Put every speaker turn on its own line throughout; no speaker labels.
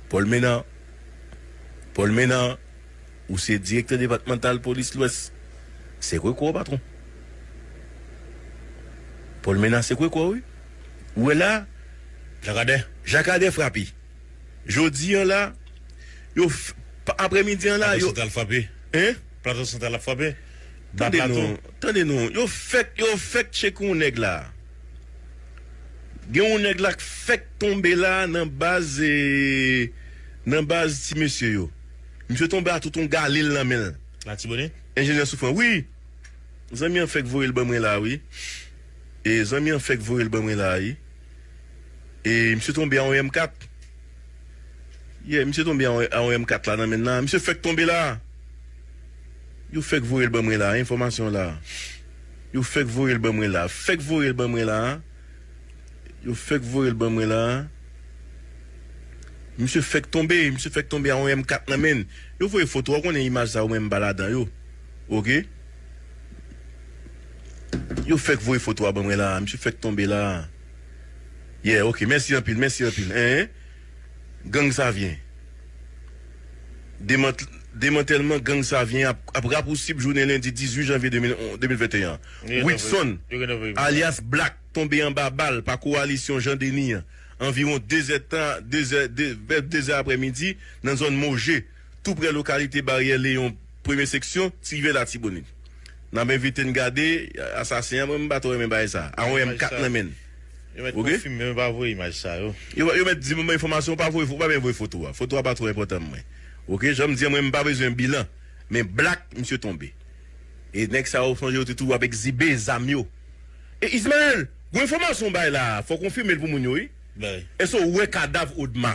Paul Menard Paul Menard, ou se direktè depatmantal polis lwès. Se kwekwe w patwon. Paul Menard se kwekwe w wi. Ou wè la. Jean Cadet Jean Cadet frape. Jodi an la, yo f, apre midi an la, yo. Plato Santral frape.
Hein? Plato
Santral ap frape.
Ba Plato. Tande non,
tande non. Yo fèk, yo fèk tcheke yon nèg la. Gen yon nèg la k fèk tonbe la nan baz nan baz ti mesye yo. Misye tonbe a tout yon galil nan menl. Latibonit?
Enjenyè Soufran, wi!
Zanmi an fèk voyel ban mwen la wi. E zanmi an fèk voyel ban mwen la wi. E misye tonbe a yon M 4. Yeah, misye tonbe a yon M 4 la nan menl la. Misye fèk tonbe la! Yo fèk voyel ban mwen la, enfòmasyon la. Yo fèk voyel ban mwen la. Fèk voyel ban mwen la. Yo fèk voyel ban mwen la. Misye fèk tonbe. Misye fèk tonbe a yon M4 nan menn. Yo voye foto a ou konnen imaj sa yo menm pa ladan yo. Ok. Yo fèk voye foto a ban mwen la. Misye fèk tonbe la. Yeah ok. Mèsi anpil. Mèsi anpil. Enh. Gang Savyen. Demantèlman gang Savyen ap rapousib jounen lendi 18 janvye 2021. Widson, alyas Black tonbe anba bal pa kowalisyon Jean Denis an anviwon 2 zè tan, vè 2 zè aprè midi nan zòn Moje. tou prè lokalite Baryè Leyon premye seksyon ti rivyè latibonit. N ap envite n gade asasen an mwen m pa twò renmen bagay sa a wè m kat nan men l
yo mèt di m
enfòmasyon ou pa voye ou pa byen voye foto a foto a pa twò enpòtan m mwen ok jan m di an mwen m pa bezwen bilan men blak misye tonbe e nèg sa yo m sonje yo te toujou ap ekzibe zam yo e Ismael gwo enfòmasyon w bay la a fò w konfime l pou moun yo wi èske w wè kadav Odma.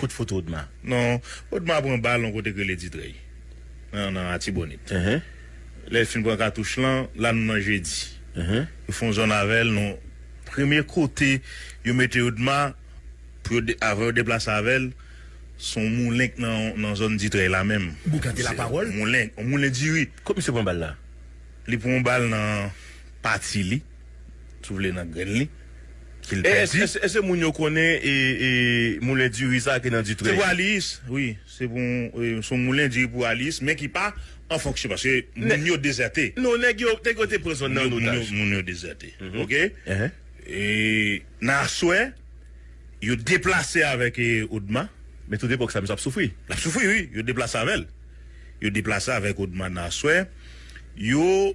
Kout fout Odma. Non, Odma
pran bal yon kote k rele Ditrèy. Nan nan Atibonit. Lè l fin pran katouch lan, la nou nan Jedi. Yo fè yon zòn avè l nan. Premye kote yo mete Odma pou yo de avan yo deplase avè l, se yon moulen k nan nan zòn Ditrèy la menm. Boukan te lapawòl.
Moulen, yon moulen diri.
Kot misye pran bal la?
Li pran yon bal
nan pati li. Si w vle nan grenn li, ki l
pèdi. E se moun yo konnen moulen diri sa ki nan Dutreuil? Se pou Aliyis, wi.
Se yon moulen diri pou Aliyis, men ki pa an fonksyon, paske moun yo dezète. Non, nèg yo
te pran zòn nan an otaj. Moun yo dezète,
ok? E nan aswè, yo deplase avèk Odma. Men tout epòk sa, misye
ap soufri. L ap soufri, wi. Yo
deplase avè l. Yo deplase avèk Odma nan aswè. Yo.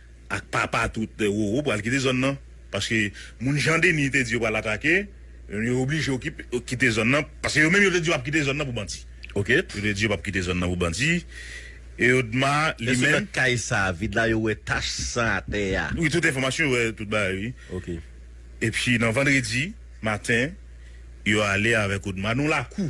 ak papa tout roro pral kite zòn nan paske moun jan Denis te di yo pral atake yo oblije yo kite zòn nan paske yo menm yo te di yo pap kite zòn nan pou bandi ok yo te di yo pap
kite
zòn nan pou bandi e yo dma li menm. Eske nan kay sa vid la
yo wè tach san atè a. Wi tout enfòmasyon yo wè
tout bagay wi ok
epi
nan vandredi maten yo ale avèk odma nou lakou.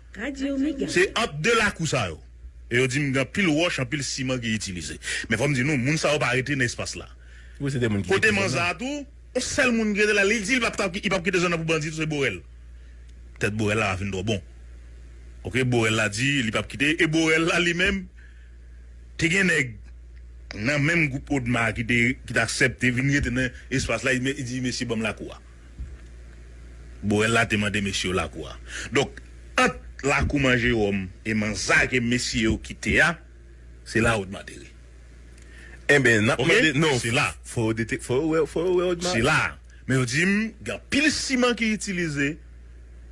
Radio Mega. Se ant 2 lakou sa yo. E yo di m gen anpil wòch, anpil siman ki itilize. Men fò m di nou, moun sa yo pa rete nan espas la. Kote
Manza a tou,
yon sèl moun ki rete la, li di li pa p kite zòn nan pou bandi tou, se Borel. Tèt Borel la pa fin twò bon. Ok, Borel la di li pa p kite, e Borel la li menm, te gen nèg nan menm gwoup Odma a ki te aksepte vin rete nan espas la, li di mesye ban m lakou a. Borel la te mande mesye yo lakou a. Donk, ant lakou Man Jewòm e Man Zake mesye yo kite a, se la Odma te ri.
Enben, n ap mande. Non, se la.
Fò yo dete, fò yo wè,
fò yo wè Odma.
Se la. Men yo di m, gen anpil siman ki itilize,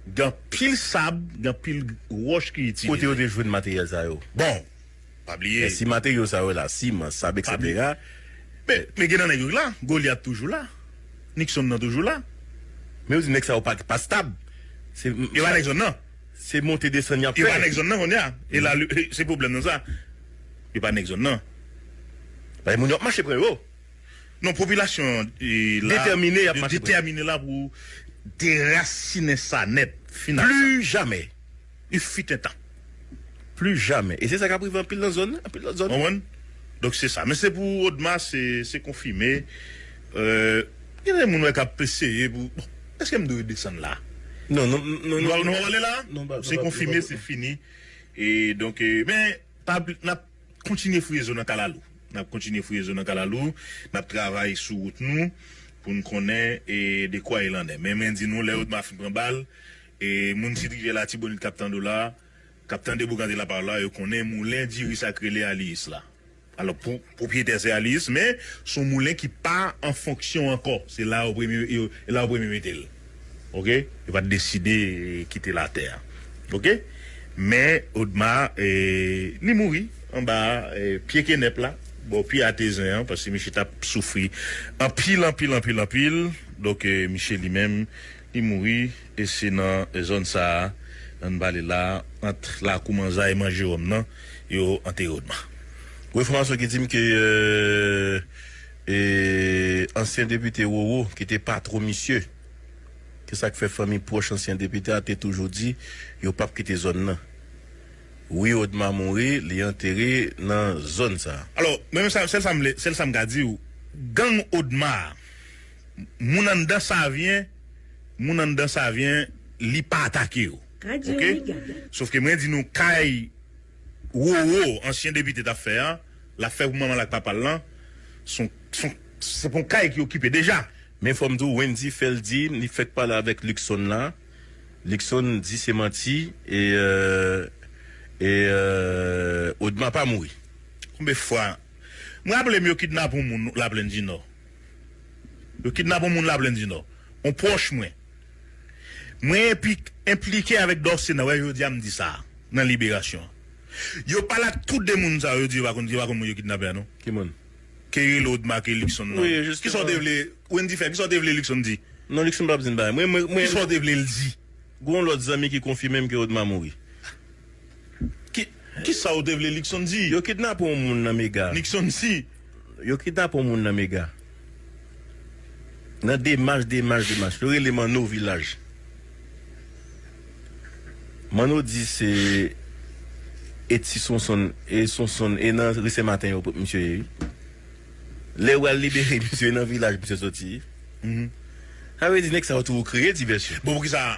gen anpil sab, gen anpil wòch ki itilize. Kote yo te jwenn materyèl sa
yo? Bon. Pa
bliye. Men si materyo sa yo la,
siman, sab eksetera. Men, men
gen nan nèg yo ki la. Goliath toujou la. Nixon nan toujou la. Men yo di nèg
sa yo pa, pa stab. Se. Yo pa nèg zòn nan.
Se monte desann
y ap fè. Yo pa nèg zòn nan kounye a.
E la, se pwoblèm nan sa. Yo pa nèg zòn nan.
Paske moun yo ap mache pre yo. Non, popilasyon
an la. Detèmine
y ap mache pre. Detèmine la
pou derasinen sa nèt. Fin ak sa. Plijamè.
U fut un
tan. Plus
jamais. E se sa kap rive anpil nan zòn, anpil lòt zòn. Konprann?
Donk se sa. Men se pou Odma se se konfime. Gen de moun wè kap eseye pou bon. Eske m dwe desann la? Non
non non non. Nou pap
ale la? Non pa Se konfime
se
fini. E donk men pa bli nap kontinye fouye zo nan kalalou. Nap kontinye fouye zo nan kalalou. Nap travay sou wout nou pou n konnen e dekwa il en est. Men mwen di nou lè Odma fin pran bal. E moun sit rivyè latibonit kap tande w la, kap tande Boukante la parole la, yo konnen moulen diri sa k rele Aliyis la. Alò pou pwopryetè se Aliyis men s on moulen ki pa an fonksyon ankò, se la yo premye e la yo premye mete l ok, yo pat deside kite latè a ok men Odma e li mouri anba pye kenèp la bò pye atezen an paske misye tap soufri anpil anpil anpil anpil donk misye li menm Li mouri e se nan zòn sa a nan vale la ant lakou manzay e man Jeròm nan yo antere Odma. Gwo enfòmasyon
ki di m ke e ansyen depite Roro ki te patwon misye se sa k fè fanmi pwòch ansyen depite a te toujou di yo pap kite zòn nan. Wi Odma mouri li antere nan zòn sa a. Alò mwen menm sèl sa
m vle sèl sa m ka di w gang Odma a. Moun anndan savyen moun anndan savyen li pa atake yo ok sof ke mwen di nou kay roro ansyen depite tap fè an lap fè pou manmanl ak papal lan son son se pon kay ki okipe deja. Men fòm diw Wendy
fèl di li fèk pale avèk Luckson la Luckson di se manti e e Odma pa mouri. Konbe fwa
m raple m yo kidnap on moun laplèn dinò. Yo kidnap yon moun Laplenndinò, yon pwòch mwen. Mwen epi enplike avèk dòsye nan wè jodi a m di sa a nan Libération. Yo pale ak tou de moun sa yo, yo di yo pa konn yo pa konn moun yo kidnape a non. Ki moun? Ke
Reload
make Luckson nan. Wi, jisteman. Kisa w te vle
Wendy
fè? Kisa w te vle Luckson di? Non Luckson pa p di n bagay.
Mwen, mwen, mwen. Kisa w te vle l
di? Gon yon lòt zanmi
ki konfime m ke Odma mouri.
Kisa ou te vle Luckson di? Yo kidnape yon moun nan
mega. Luckson di.
Yo kidnape
yon moun nan mega. Nan demach demach demach. Yo rele Manno vilaj. Manno di se e ti sonsonn e sonsonn e nan ri sen maten yo pot misye ye wi. Lè yo bal libere misye e nan vilaj misye soti wi. Sa vle di nèg sa yo tou kreye divèsyon. Bon poukisa.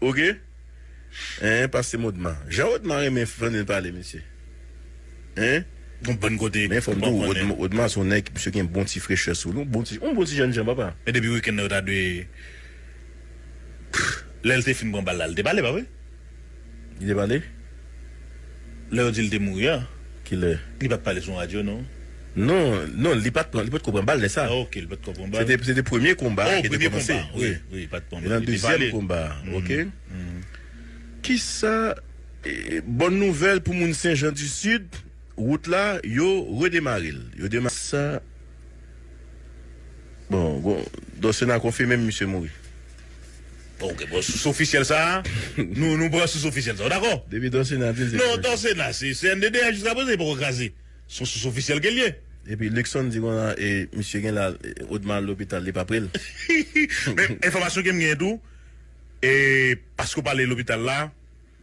ok
hein pase modma jan odma renmen fanil pale mesye hein. Gon
bann kote Men fòm diw
odma son nèg misye gen bon ti frechè souli yon bon ti yon bon ti jènjan papa. Men depi weekend nan yo ta dwe
Pff lèl te fin pran bal la li te pale pa vre? Li te
pale?
Lè yo di li te mouri an? Ki lè? Li
pat pale sou yon radyo
non? Non, non
li pat pran, li potko pran bal lè sa. Ok, li potko pran bal.
Se te premye konba a ki te
kòmanse. Oh, premye konba, wi, wi, pat pran
bal. Nan dezyèm konba a,
ok. Kisa, bòn nouvèl pou moun Senjan di Sid, wout la, yo redemare l. Yo demare l. Kisa Bon, bon, Don Sena konfime misye mouri. Ok,
bon, sous ofisyèl sa a, nou, nou pran sous ofisyèl sa a, w dakò? Depi Don Sena di l se Non,
Don Sena, se
CNDD a jiska prezan li poko kraze. Se yon sous ofisyèl ke l ye. Epi Luckson di
konsa e misye gen la Odma al lopital li pa pre l. Men,
enfòmasyon ke m gen tou, e paske w pale lopital la,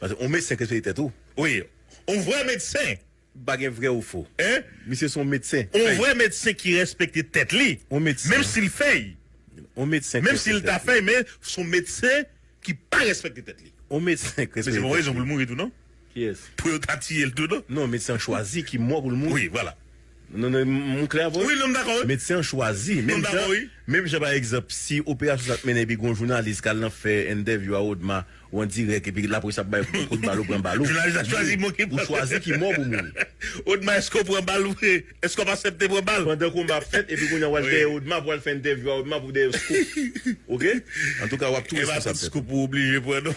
Paske
on medsen respekte
tèt ou wi on
vrè medsen. Pa gen vrè ou
fo misye son
medsen
fey. On vrè medsen ki
respekte tèt li menm sil fey. On medsen ki
respekte tèt li. Menm sil ta fey men
son medsen ki pa respekte tèt li. On medsen ki respekte tèt li. Men se
pa on rezon poul mouri
tou non. Kiyès. Pou yo
ta tiyel tou
non. Non medsen an chwazi ki
mò poul mouri. Wi vwala. Medsen
an chwazi.
Menm jan pa egzanp si operasyon sa t mennen epi gen yon jounalis k al nan fè entèvyou a Odma ou an dirèk epi laprès ap bay kout bal ou pran bal ou
chwazi ki mò pou mouri. Pandan konba ap fèt epi
kounye a w al dèyè Odma pou al fè entèvyou a Odma pou dèyè yon scoop ok antouka w
ap tou responsab tèt ou.